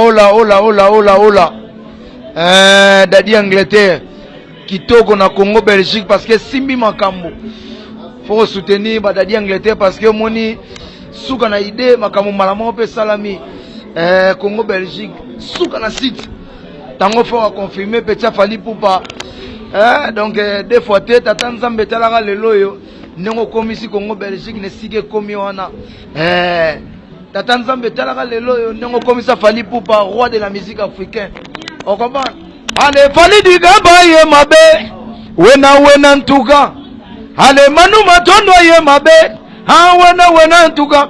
Hola, hola, hola, hola, hola. Eh, Daddy Angleterre. Kitoko na Congo Belgique parce que simbi makambo. Faut soutenir ba Daddy Angleterre parce que moni suka na idée makambo malamo pe salami. Eh, Congo Belgique suka na site. Tango faut a confirmer pe tia fali poupa. Eh, donc eh, deux fois te tata Nzambe talaka lelo yo. Ndenge okomisi Congo Belgique ne sike komi wana. Eh, Tata Nzambe talaka lelo yo ndenge okomisa Fally Ipupa roi de la musique africain. Okomba. Ale Fally Digamba ye mabe. Wena wena ntuka. Ale Manu Matondo ye mabe. Ha wena wena ntuka.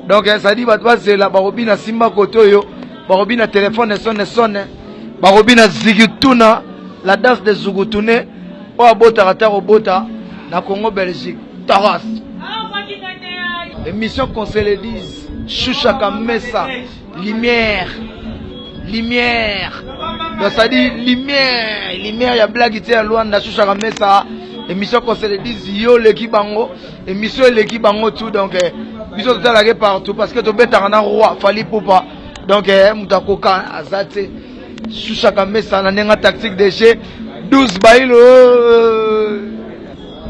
Donc ça dit bato bazela bakobina simba kote oyo bakobina telefone esone esone bakobina zigituna la danse de zugutune oyo abotaka ta kobota na congo belgique toros émission qu'on se le dise chuchaka mesa lumière lumière donc ça dit lumière lumière ya blague te ya luanda chuchaka mesa émission qu'on se le dise yo oleki bango émission eleki bango tout donc eh, biso totalaka partout parce que tobetaka na roi fali pupa donc eh, moto akoka aza te Shushaka Mesa na nenga tactique de jeu 12 bailo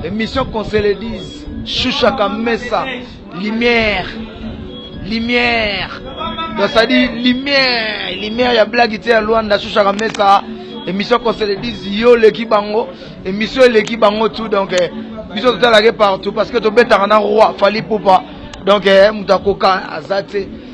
émission qu'on se le dise Shushaka Mesa lumière lumière donc ça dit lumière lumière ya blague te ya Luanda Shushaka Mesa émission qu'on se le dise yo leki bango émission leki bango tout donc eh, biso totalaki partout parce que tobetaka na roi Fally Poupa donc eh, moto akoka aza te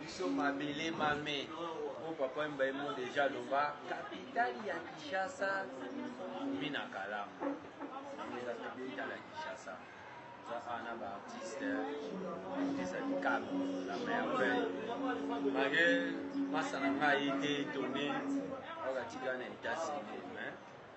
biso mabele mame po papa wemba ye mo deja aloba kapitale ya kinshasa mi na kalamu yango eza kapitale ya kinshasa oza awa na baartiste artiste ya likambo la merveille mage masa na ngai te tone oyo katika na etats unis mais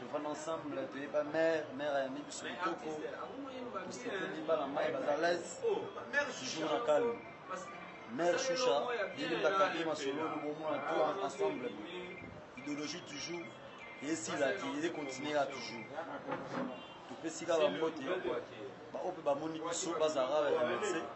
tofanda ensemble toyeba mare mare ayambi biso kitoko tosete libala mai baza lese toujours na calme mare shusha bilimbaka te masolo lobomona to ensemble idéologie toujours esila te eze continuer ya toujours topesi kaka mbote baoyo mpe bamoni biso bazala remercie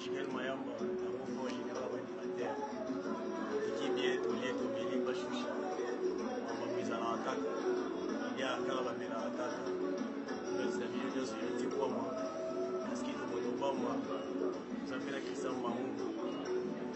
Julien Mayamba yango mpo général ba animateur tiki bien tolie tomeli bashusha mambo ezalaka kaka ya kaka bamelaka kaka topesa bino nyonso yoti kwama paske tokoto kwama ozapela kristian mango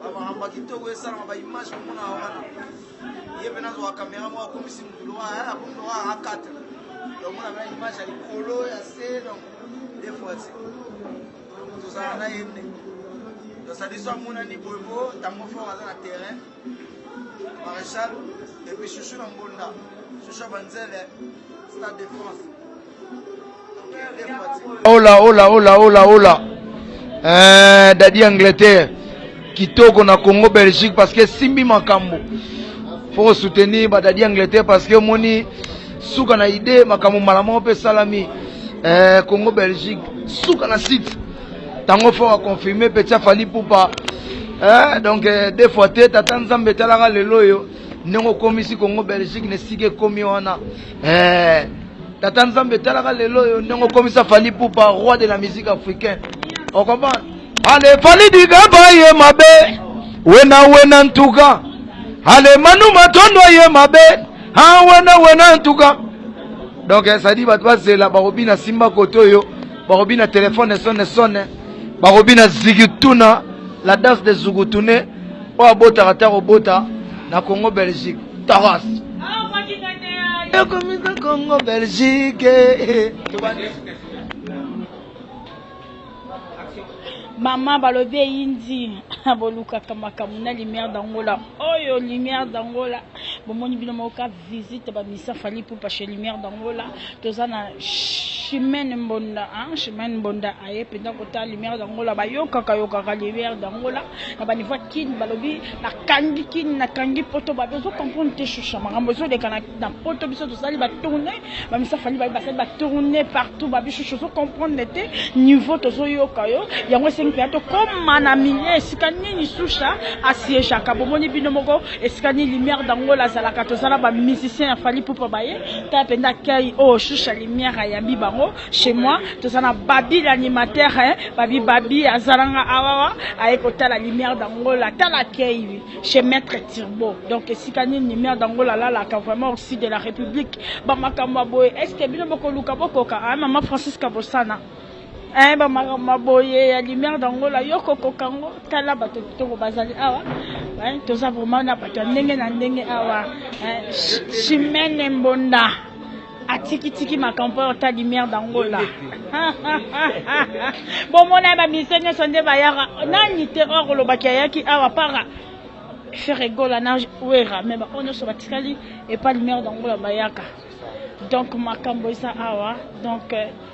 bamahamba kitoko esalama baimage komona wana ye mpe nazwa kamera moko akomisi motu lowa akomi lowa a 4 donc mona mena image ya likolo ya se donc de fois se tozala na ye nde donc sadiso amonani boyebo ntango fort aza na terrain Marechal et puis Chouchou na Mbonda, Chouchou Banzele, Stade de France. Ola ola ola ola ola. Euh, Daddy Angleterre. Kitoko na Congo Belgique parce que simbi makambo. Faut soutenir ba Daddy Angleterre parce que moni suka na idée makambo malamoko pe salami. Euh, Congo Belgique suka na site tango fort a confirme petit afali pupa eh, donc eh, deux fois te tata nzambe etalaka lelo oyo ndenge okomisi kongo belgique na esika ekomi wana eh, tata nzambe etalaka lelo oyo ndenge okomisa fali pupa roi de la musique africaine okomprendre ale fali digaba ye mabe wena wena ntuka ale manu matondo ye mabe ha wena wena ntuka donc esadi bato bazela bakobina simba kote oyo bakobina telefone sone sone bakobina zigituna la danse de zugutune oyo abotaka te akobota na congo belgique toros ekomisa congo belgique mama balobi eyindi bolukaka makambo na lumière d'angola oyo lumière d'angola Bomoni bino moko ka visite ba misa Fally Ipupa chez Lumière d'Angola toza na Chimène Mbonda hein Chimène Mbonda aye penza kota Lumière d'Angola bayokaka yokaka Lumière d'Angola na ba niveau kin balobi na kangi kin na kangi poto ba bezo comprendre te choucha makambo ezo leka na, na poto biso tosali ba tourner Mamisa Fally baye basali ba tourner partout ba bichou ozo comprendre te niveau tozo yoka yo yango esengi pena to koma na milieu esika nini Susha asiejaka bomoni bino moko esika nini lumière d'Angola azalaka toza na ba musiciens ya Fally Ipupa baye ta penda kei oh Susha lumière ayambi bango chez moi toza na Babi l'animateur hein Babi Babi azalanga awawa aye kotala lumière d'Angola tala kei chez maître Turbo. Donc esika nini Nimia Dangola alalaka vraiment au sud de la République. Ba makambo ya boye est-ce que bino bokoluka bokoka ah maman Francisca Bosana. Eh ba makambo ya boye ya Nimia Dangola yo kokoka ngo tala bato kitoko bazali awa. Eh toza vraiment na bato ya ndenge na ndenge awa. Eh Chimene Mbonda. atiki tiki makambo oyo ta lumière d'angola bomona ye bamise nyonso nde bayaka nani te or olobaki ayaki awa para ferre gola na wera me baoyo nyonso batikali epa lumière d'angola bayaka donc makambo eza awa donc euh,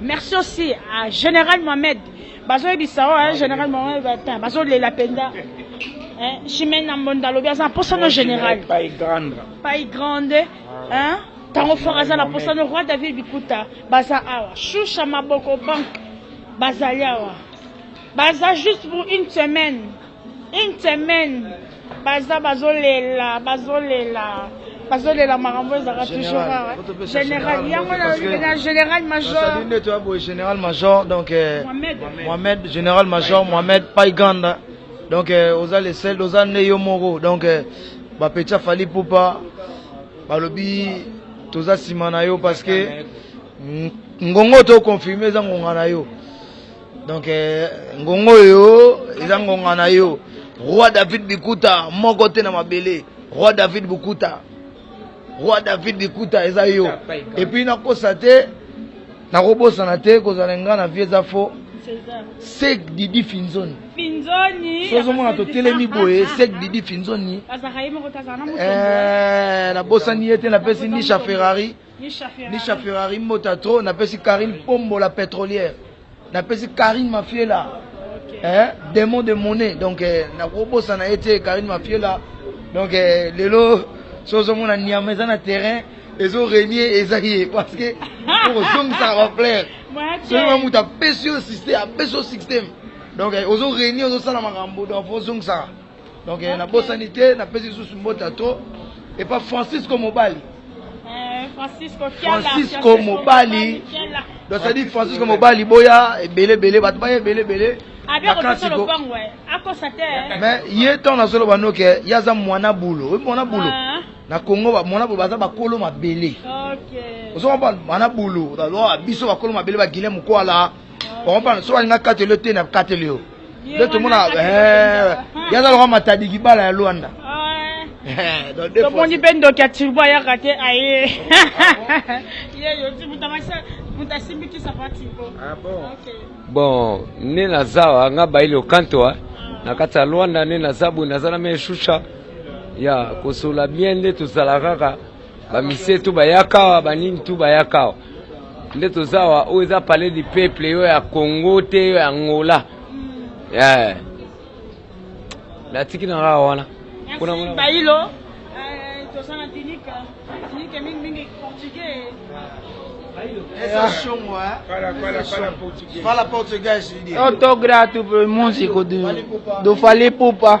Merci aussi à Général Mohamed. Bazo yebisa wa hein, Général Mohamed bata. Bazo lela penda. Hein, Chimène Nambonda lobi aza posa no général. Pas grande. Pas grande. Hein? Tango fort aza na posa no roi David Bikuta. Baza awa. Shusha maboko bank. Baza yawa. Baza juste pour une semaine. Une semaine baza bazolela bazolela bazolela makambo ezalaka toujours awa général yango na général major ndeto ya boye général major donc euh, mohamed général major mohamed paiganda donc euh, oza le sel oza nde yo moko donc euh, bapeti afali pupa balobi toza nsima na yo parce que ngongo to confirme eza ngonga na yo donc eh, ngonga oyo eza ngonga na yo roi david bikuta moko te na mabele roi david bukuta roi david bikuta eza yo epuis nakosa te nakobosana te kozala ngai na vie eza fo sek didi finzoni sozomona totelemi boye sek didi finzoni eh, nabosani ye te napesi nisha ferrari Nisha Ferrari Mbota trop napesi Karine Pombo la pétrolière napesi Karine Mafiela eh, démon de monnaie donc eh, nakobosana ye te Karine Mafiela donc eh, lelo sozomona niama eza na terrain ezo renie eza ye parce que okozongisaka bafleur soki ma moto apesi yo système apesi yo système donc eh, ozo renie ozosala makambo donc fo ozongisaka donc eh, nabosani te napesi lisusu mbota to epa francisco mobali eh, francisco mobali donc cetadi francisco mobali boya ebele ebele bato baya ebele ebele mais ye ntango nazoloba noke ye aza mwana bulo oyebi mwana bulo ah. na congo mwana bulo baza bakolo mabele ozo comprendre mwana bulo biso bakolo mabele baguilin mokwala okopana soki alinga kateli yo te na kateli yo nde tomona yaza loka matadiki bala ya lwanda tomoni mpe ndoki ya turbo ayaka te aye bon nde naza wa nga bayili okantoa na kati ya lwanda nde naza boye naza na meshusha ya kosola bien nde tozala kaka bamisie tu bayaka awa banini tu bayaka awa nde toza awa oyo eza palais du peuple yo ya congo te yo ya angola yeah. natiki na kaka wana bailo eh, toza na dinike dinike mingimingi portugais Fala português. Autografo músico do, do Fale Pupa.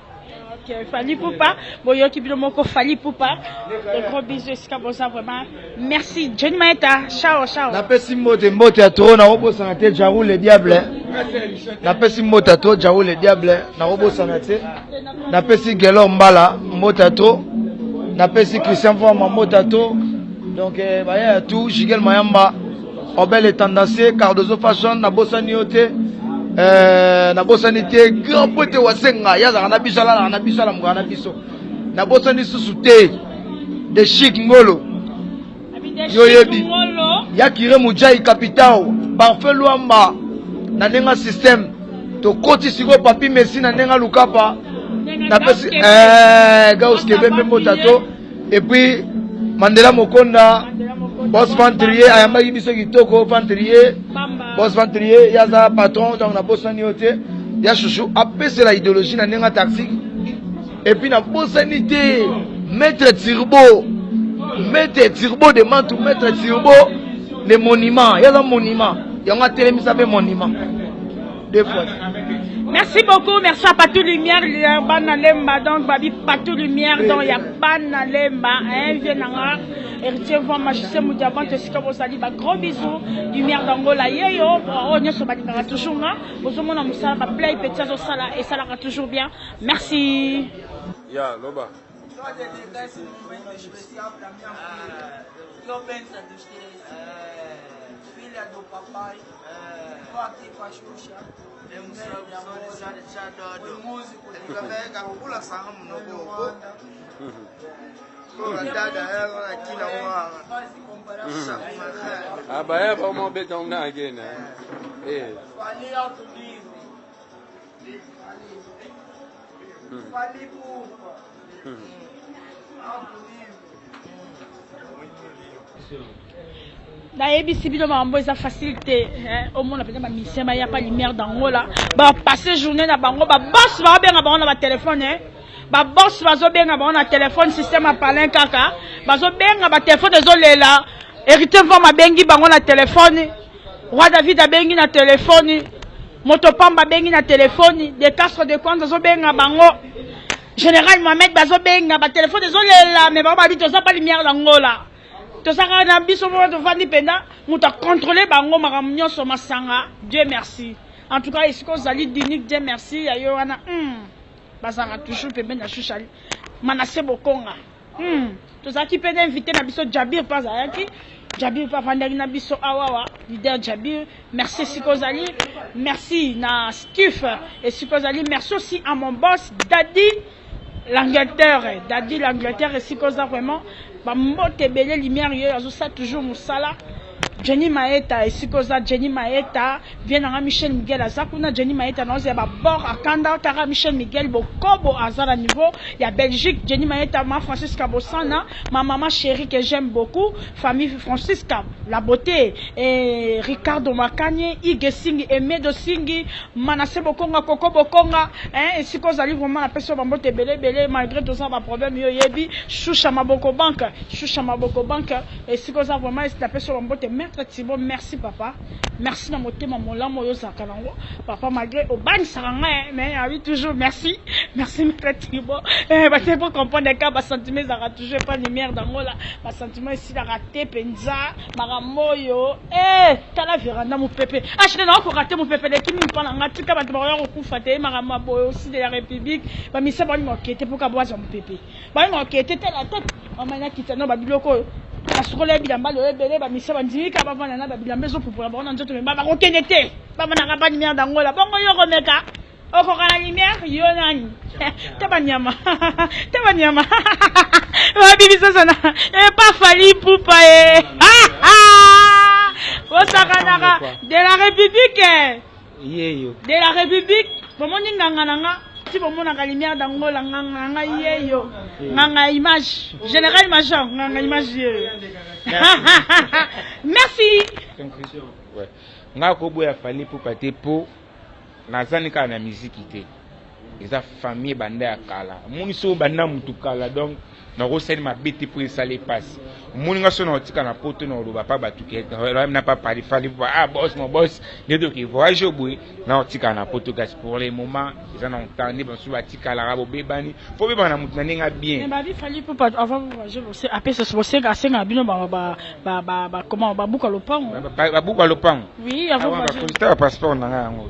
Okay, Fally Poupa, boyoki bino moko Fally Poupa. De gros bisous esika boza vraiment. Merci Johnny Maeta. Ciao ciao. Napesi mbote mbote ya trop na obosana te Jarou le diable. Napesi mbote ya trop Jarou le diable na obosana te. Napesi Gelor Mbala mbote ya trop. Napesi Christian Voma mbote ya trop. Donc eh, baya ya tout Jigel Mayamba. Obele Tendance, Cardozo Fashion, na bosani yo te. Euh, na bosani te grand pote wasenga ye azalaka na biso alalaka na biso alamukaka na biso na bosani susu te de chic ngolo yo yebi ya kire mujai capitao parfait luamba na ndenge système tokoti sikoyo papi messi na ndenge alukapa napesi eh, gauskebe mpe mbotato Et puis Mandela Mokonda Boss Ventrier ayambaki biso kitoko Ventrier Boss Ventrier yaza patron donc na boss nani yote ya chouchou apese la idéologie na nenga tactique et puis na boss nité maître Turbo maître Turbo de Mantou maître Turbo le monument yaza monument yango atelemisa pe monument deux fois. Merci beaucoup, merci à Patou Lumière, Bana Lemba, donc Babi Patou Lumière, donc il y a Bana Lemba, hein, Vienanga, héritier Van Magicien Moudiaban, te sika bosali, ba gros bisous, Lumière d'Angola, yeyo, oh, nyoso balingaka toujours nga, bozomona musala, ba play petit azo sala, et salaka toujours bien, merci. Ya, loba. Toi, des détails, c'est mon mec, je me suis appelé à mi-enfant. Yo, Ben, ça te chie. Fille à ton papa. abaya bamobeta una agena nayebisi bino makambo eza facile te omona mpenza bamisien bayaka lumière d'angola bapasse journée na bango babos baobenga bango na batelefone babos bazobenga bango na telefone système ya palin kaka bazobenga batelefone ezolela héritier mvama abengi bango na telefone Roi David abengi na telefoni, moto pamba abengi na telefoni, de Castro de Kwanza azobenga bango, General Mohamed bazobenga, batelefoni ezolela, me bango babi toza pa lumière na Angola, toza kaka na biso moko tofandi mpenza, moto akontrole bango makambo nyonso, masanga, Dieu merci. En tout cas, esika ozali Dinique, Dieu merci, ya yo wana, hmm, bazalaka toujours pembeni na Shushali, Manasse Bokonga. Hmm. Tozalaki mpe na invité na biso Jabir mpe azalaki Jabir mpe afandaki na biso awawa leader Jabir merci esika ozali merci na Skif esika ozali merci aussi à mon boss Daddy l'Angleterre Daddy l'Angleterre esika oza vraiment bambote ebele lumière yoyo azosala toujours mosala Jenny maeta esika oza Jenny maeta vie nanga Michel Miguel aza kuna Jenny maeta na oza ya ba bord akanda kaka Michel Miguel bokobo aza na niveau ya Belgique Jenny maeta ma Francisca Bosana ma maman chérie que j'aime beaucoup famille Francisca la beauté et Ricardo Makanye Ige Singi Emedo Singi Manasse Bokonga Koko Bokonga hein esika ozali vraiment na peso bambote ebele ebele malgré toza ba problème yo yebi Shusha Maboko Banque Shusha Maboko Banque Esika oza vraiment est na peso ba mbote maitre Thibault merci papa merci na motema molamu oyo ozalaka nango papa malgré obangisaka ngai mais na bi toujours merci merci maitre Thibault eh ba te po comprendre ka ba sentiments ezalaka toujours pas lumière d'Angola ba sentiments esilaka te penza makambo oyo eh tala veranda mopepe achete na okoka te mopepe leki mingi mpa na ngai tika bato bakoya kokufa te makambo ya boye aussi de la république bamisa bani moke te mpo kabwazwa mopepe Bana na okete tala tata mama na kita na babiloko oyo basukola bilamba lelo ebele bamisa bandimi kaka bavanda na babilamba ezopupola bango na nzoto meba bakokende te bavanda kaka banimer bango la bongo yo komeka okoka na nimer yo nani te banyama te banyama babibisasana epa eh, fali pupa e eh. bosakanaka de la république yeyo de la republique bomoni nganga na nga ti bomonaka lumière d'angola nganga na nga yeyo nganga ya image général major nganga image yeyo merci ngai akoboya fali pupa te po nazani kaka na miziki te eza famille banda ya kala omoni soki obanda mutu kala donc nakosali mabe te mpo esali mpasi omoni nga so naotika na poto na oloba pa bato na papalifali ah bos mo bos nde toke voyage oboye naotika na poto kasi pour le moment eza na ntan nde bamosusu batikalaka bobebani mpo obebana na moto na ndenge bien asengaka bino babuka lopango babuka lopango bakonzita bapasseport na ngai yango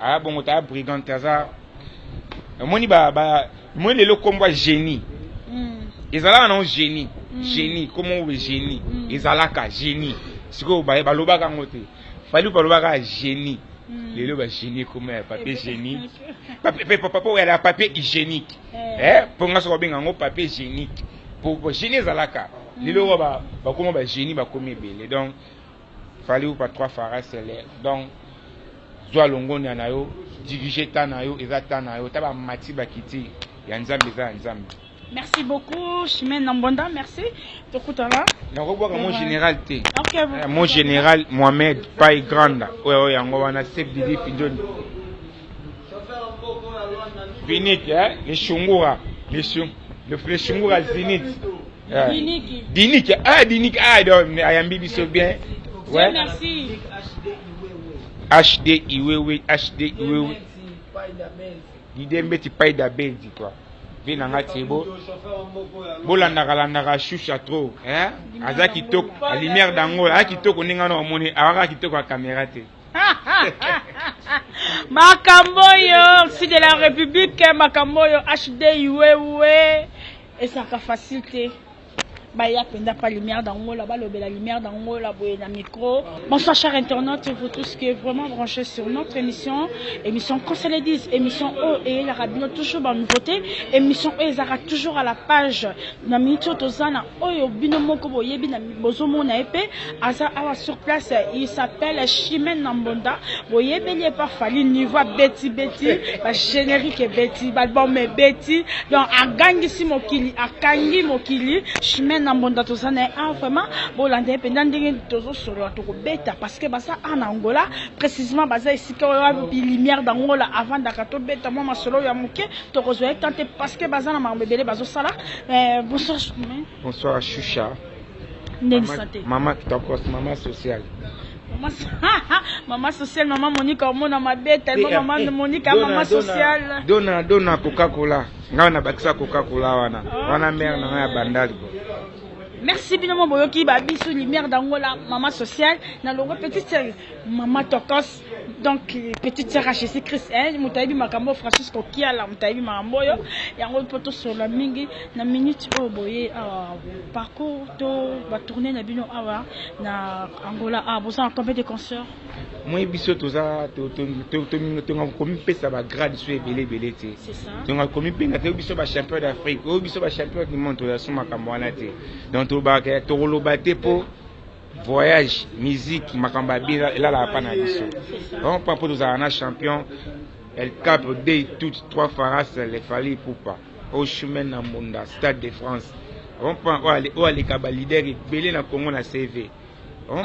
Aya bongo ta brigand te aza omoni ba ba omoni lelo kombo ya génie mm. ezalaka nango génie mm. génie kombo yango génie mm. ezalaka génie sikoyo baye balobaka yango te fali balobaka génie mm. lelo ba génie kombo ya papier génie papa oyo ya papier hygiénique eh. eh, mpo nga soki obenga yango papier génique po génie ezalaka mm. lelo oyo bakoma ba génie bakomi ebele donc Fally Ipupa trois fois reste l'air donc zwa longonya na yo dirige temps na yo eza temps na yo ta bamati bakiti ya nzambe eza ya nzambe Merci beaucoup, Chimène Nambonda. Merci. Tokutana. nakobwaka mo général te Ok, vous- Eh, mo général mohamed pai granda oyo oyo yango wana sep didi fidjoni vinit eh, le shungura le shung- le- le shungura zinit Diniki. Diniki. Ah, Diniki. Ah, donc, ayambi biso bien. Ouais. Merci. HD Iwewe, HD Iwewe. L'idée mbeti paille d'abendi quoi. Vie na nga tiebo. Bolandaka landaka shusha trop, hein? Aza kitoko, la lumière d'Angola, aza kitoko ninga na omoni, awaka kitoko ya caméra te. makambo oyo si de la république makambo oyo hd iwewe Ezalaka facile te baya mpenza mpa lumière d'angola balobela lumière d'angola boye na micro bonsoir cher internaute et vous tous que vraiment branché sur notre émission émission conseil les 10 émission oyo oh, eyelaka bino toujours banouveauté émission oyo oh, ezalaka toujours à la page na minute oyo toza na oyo oh, bino moko boyebi na bozomona ye pe aza awa sur place il s'appelle chimene na mbonda boyebeli ye pa fali niveau abeti beti ba générique ebeti balbum ebeti donc agangisi mokili akangi mokili chimene na mbonda toza na ye a vraiment bolanda ye mpenza ndenge tozosolola tokobeta parce que baza a na angola précisement baza esika oyo wapi lumière d'angola avandaka tobeta mwa masolo ya moke tokozwa ye temps te parce que baza na makambo ebele bazosala eh, bonsoir chimene Bonsoir Shusha. Ndenge sante. Mama kitokos, mama social. Mama mama social, mama Monica omona mabeta, mama mama eh, Monica dona, mama social. Dona dona Coca-Cola. Nga na bakisa Coca-Cola wana. Okay. Wana mère na ya bandali. Merci bino mo boyoki ba bisu lumière d'Angola, mama social, na longo petite sœur, mama tokos. donc petite sœur à Jésus Christ eh moto ayebi makambo Francisco Kiala moto ayebi makambo oyo yango mpo tosolola mingi na minute oyo boye awa parcours to ba tourner na bino awa na Angola awa boza na combien de concerts moi biso toza tonga komipesa bagrade so ebele ebele te tonga komipenda te oyo biso bachampion d'afrique oyo biso bachampion du monde toya so makambo wana te donc tokoloba te mpo voyage musique makambo ya bino elalaka mpa na biso vraiment mpa mpo tozala na champion el capo dei toute trois faras le fali ipupa au chemin na mbunda stade de france vraiment mpa oyo aleka balider ebele na congo na cv Oh,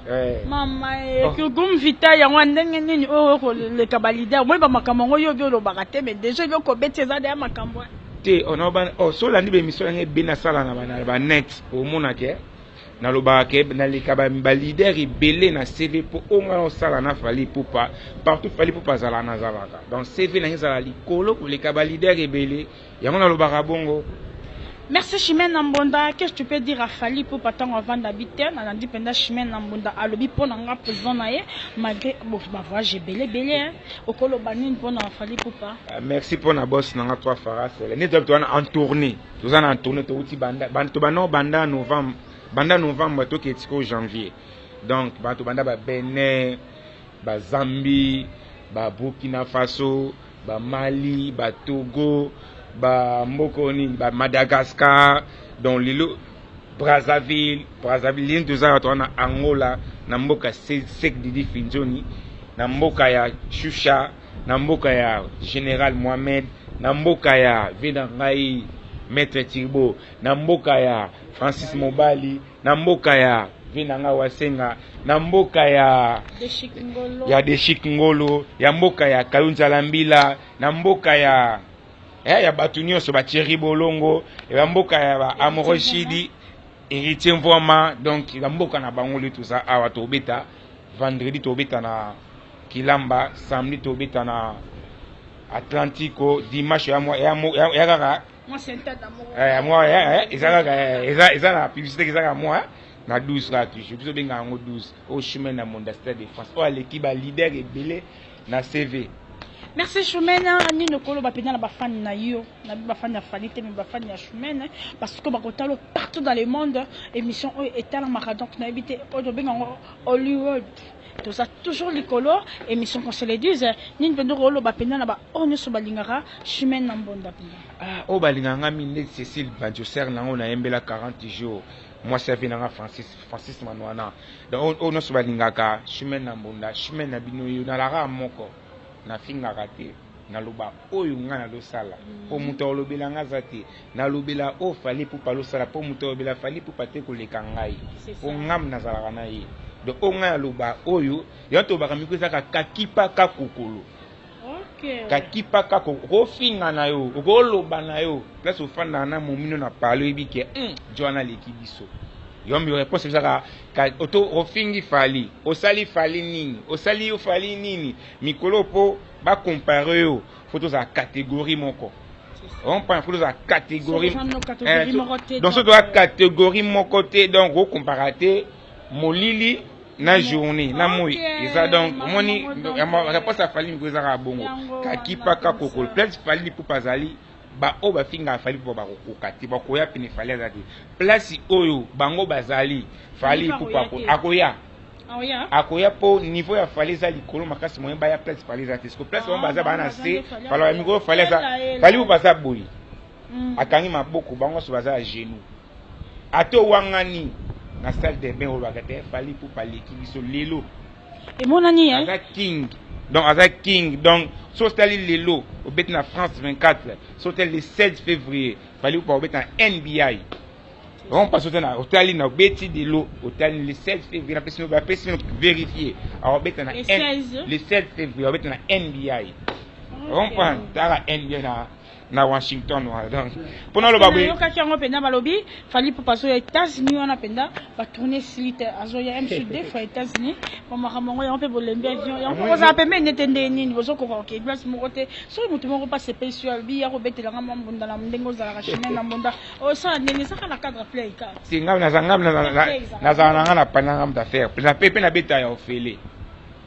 eh. mama eh, oh. kogum vita yango ndenge nini oyo oh, koleka balider omoni bamakambo yango yo obi olobaka te me deja obi okobeti eza deya makambo te so olandi bemission yango ebe nasala na banet omonake Nalobaka ke naleka ba ba leader ebele na CV po oyo nga naosala na Fally Ipupa partout Fally Ipupa azalaka nazalaka donc CV na nga ezala likolo koleka ba leader ebele yango nalobaka bongo. Merci Chimène na Mbonda, qu'est-ce tu peux dire à Fally pour pas tango avanda bite, na landi penda Chimène na Mbonda alobi pona nga président na ye malgré bon ba voyage belé belé hein. Okolo banine pona Fally pour pas. Euh, merci pona boss na nga toi Farah Sele. Nito wana en tournée. toza na tourne towuti banda bato banao banda novembre banda novembre toke tiko janvier donc bato banda ba benin ba zambie ba burkina faso ba mali ba togo ba mboka oyo nini ba madagascar donc lelo brazzaville brazzaville lini toza bato wana angola na mboka sek didi finzoni na mboka ya shusha na mboka ya general mohamed na mboka ya vie na ngai maître turbo na mboka ya francis mobali na mboka ya vie na ngai wasenga na mboka ya ya deshik ngolo ya mboka ya kayunzala mbila na mboka ya eh, ya bato nyonso bathierry bolongo ya mboka ya ba amoroshidi Heritier Mvuama donc eza mboka na bango lelo toza awa tobeta vendredi tobeta na Kilamba samedi tobeta na Atlantico dimanche ya mwa ya mo- ya ya kaka eh, mwa eh, eh, eza kaka eh, eza eza na publicité eza kaka mwa na 12 kaka toujours biso benga yango 12 au chemin na Monda Stade de France oyo aleki ba leader ebele na CV. Merci Shumena, nini okoloba pena na bafani na yo na bafani ya Fally te mais bafani ya Shumena parce que bakotalo partout dans le monde émission oyo etalamaka donc nayebi te oyo tobenga yango Hollywood toza toujours likolo émission qu'on se le dise nini pena okoloba pena na ba oyo nyonso balingaka Shumena Mbonda pena Ah, oyo balingaka nga mingi neti Cécile Banjo sœur na yango nayembela 40 jours mwasi ya vie na nga Francis Francis Manwana donc oyo oh, nyonso balingaka chemin na mbunda chemin na bino yo nalaka moko nafingaka te naloba oyo ngai nalosala mpo mm. moto aolobela ngai aza te nalobela oyo fali pupa alosala mpo moto aolobela fali pupa te koleka ngai mpo ngam nazalaka na ye donc oyo ngai naloba oyo yango tolobaka miko ezaka kakipa kakokolo kakipa kaka okofinga na yo okoloba na yo place ofandaka na momino na pale oyebi ke hmm, joana aleki biso yombi reponse ezaka oto ofingi fali osali fali nini osali yo fali nini mikolo mpo bakompare yo fo tozala kategorie moko ompana fo tozala kategorie eh, donc soki toza kategorie moko te donc okompara te molili na journée na moi eza donc omoni réponse ya fali miko ezaka bongo kakipa kakokol place fali lipupa azali baoyo bafingaka fali mpo bakokoka te bakoya pene fali aza te place oyo bango bazali fali lipupa akoya akoya mpo niveau ya fali eza likolo makasi moyen baya place fali eza te siko place bango baza baa na se fali mikolo fali aza fali lipupa aza boye akangi maboko bango nyonso baza ya genou Ata owangani na salle de bain olobaka te Fally Ipupa aleki biso lelo. Emonani hein. Aza king. Donc aza king. Donc so tali lelo obeti na France 24, so tali le 16 février, Fally Ipupa obeti na NBI. Donc parce que na otali na obeti lelo, otali le 16 février na pesi ba pesi vérifier. Alors obeti na le 16 février obeti na NBI. Comprendre? Tala NBI na na Washington wana donc mpo naloba boye yokaki yango mpenza balobi fali pupa azoya États-Unis wana mpenza ba tourne esili te azoya mc deux fois États-Unis ba makambo yango yango mpe bolembi avion yango kozala pembeni nete ndenge nini bozokoka kokei place moko te soki moto moko mpe asepelisi yo alobi ya kobetela nga mwa mbunda na ndenge ozalaka chemin na mbunda osala ndenge ezaka na cadre play kaka te ngai nazala na ngai na ngai na panya ngai moto affaire mpe mpe nabeta ya ofele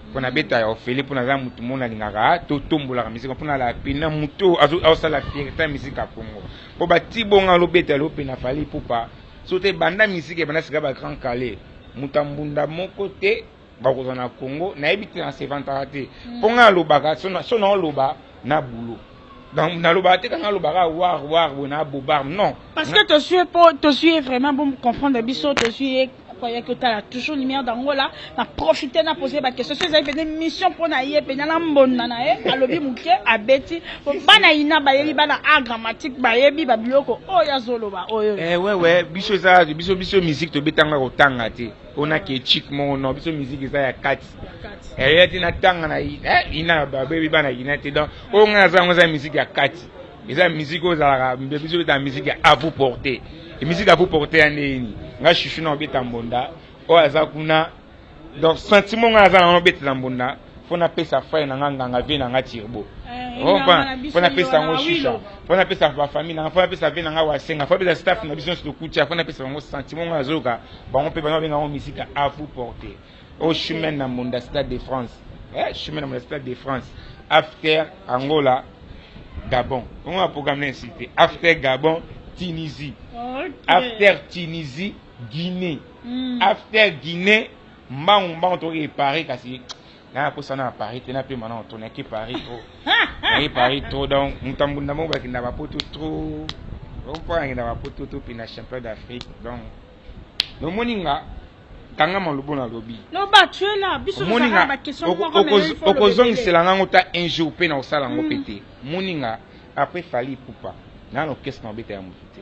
mpo nabeta ya ofele mpo naza motu mona alingaka totombolaka misika mpo nala pena motu oyo azosala fierté ya misika ya congo mpo batibonga alobeta lelo mpe na fali ipupa so te banda misika ebanda sika ba grand kale moto ya mbunda moko te bakozala na congo nayebi te nasevantaka te mpo ngai alobaka so naoloba na boulot donc nalobaka te kanga alobaka war war boye na bobar non parce que tozwi ye mpo tozwi ye vraiment bomcomprendre biso tozwi ye akoyaki otala toujours lumière d'angola na profite na pose baquestion so ezali mpenza émission mpo na ye mpenza na mbonda na ye alobi moke abeti po bana ina bayebi bana a grammatique bayebi babiloko oyo azoloba oyo ewewe eh, biso eza biso biso musique tobetanga kotanga te pona ke chic moko non biso musique eza ya kati eya eh, ti natanga na eh, ina babebi bana ina te donc oyo ngai naza yango eza musique ya kati eza musique oyo ezalaka biso betaka musique ya avu porte musique avu porte ya ndeni ngai chuchu na obeta mbonda oyo aza kuna donc sentiment ngai aza nango nobetela mbonda mpo napesa frere na nga nganga vie na nga tirbo mpo napesa yango shisha mpo napesa bafamille na nga mpo napesa vie na nga wasenga mpo napesa staff na biso nyonso tokutia mpo napesa bango sentiment nga nazoyoka bango mpe bana babenga yango misika a vous porter au chemin na monda stade de france eh, chemin na monda stade de france after angola gabon ongo na programme na insi te after gabon tunisie okay. after tunisie guinée mm. after guinée Mbangu mbangu toke Paris kasi na akosa na Paris te na pema na to nake Paris trop naye Paris trop donc mutambunda moko bakenda ba poto trop donc mpo akenda ba poto to pina champion d'Afrique donc nomoni nga kanga malobo na lobi omoni nga okozongisela ngango ta un jour mpe na kosala yango mpe mm. te moni nga après fali ipupa nano kesi na obeta ya motu te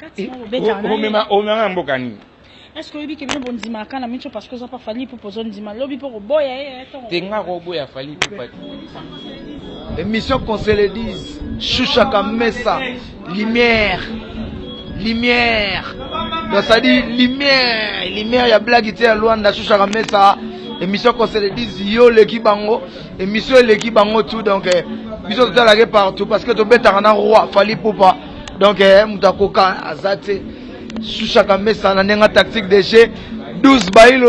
Kati mo bobeta na omema omema mboka nini est ce que oyebi ke bino bondimaka na mico parce que oza mpa fali pupa ozondima lobi mpo koboya ye eh, eh, te nga koboya fali pupa émission qu'on se le dise shusha kamesa lumière lumière donc ça dit lumière lumière ya blague te ya luanda shusha kamesa émission qu'on se le dise yo oleki bango émission eleki bango tout donc eh, biso totalaka partout parce que tobetaka na roi fali pupa donc eh, moto akoka aza te sushaka mesa na ndenga tactique de jeu 12 bailo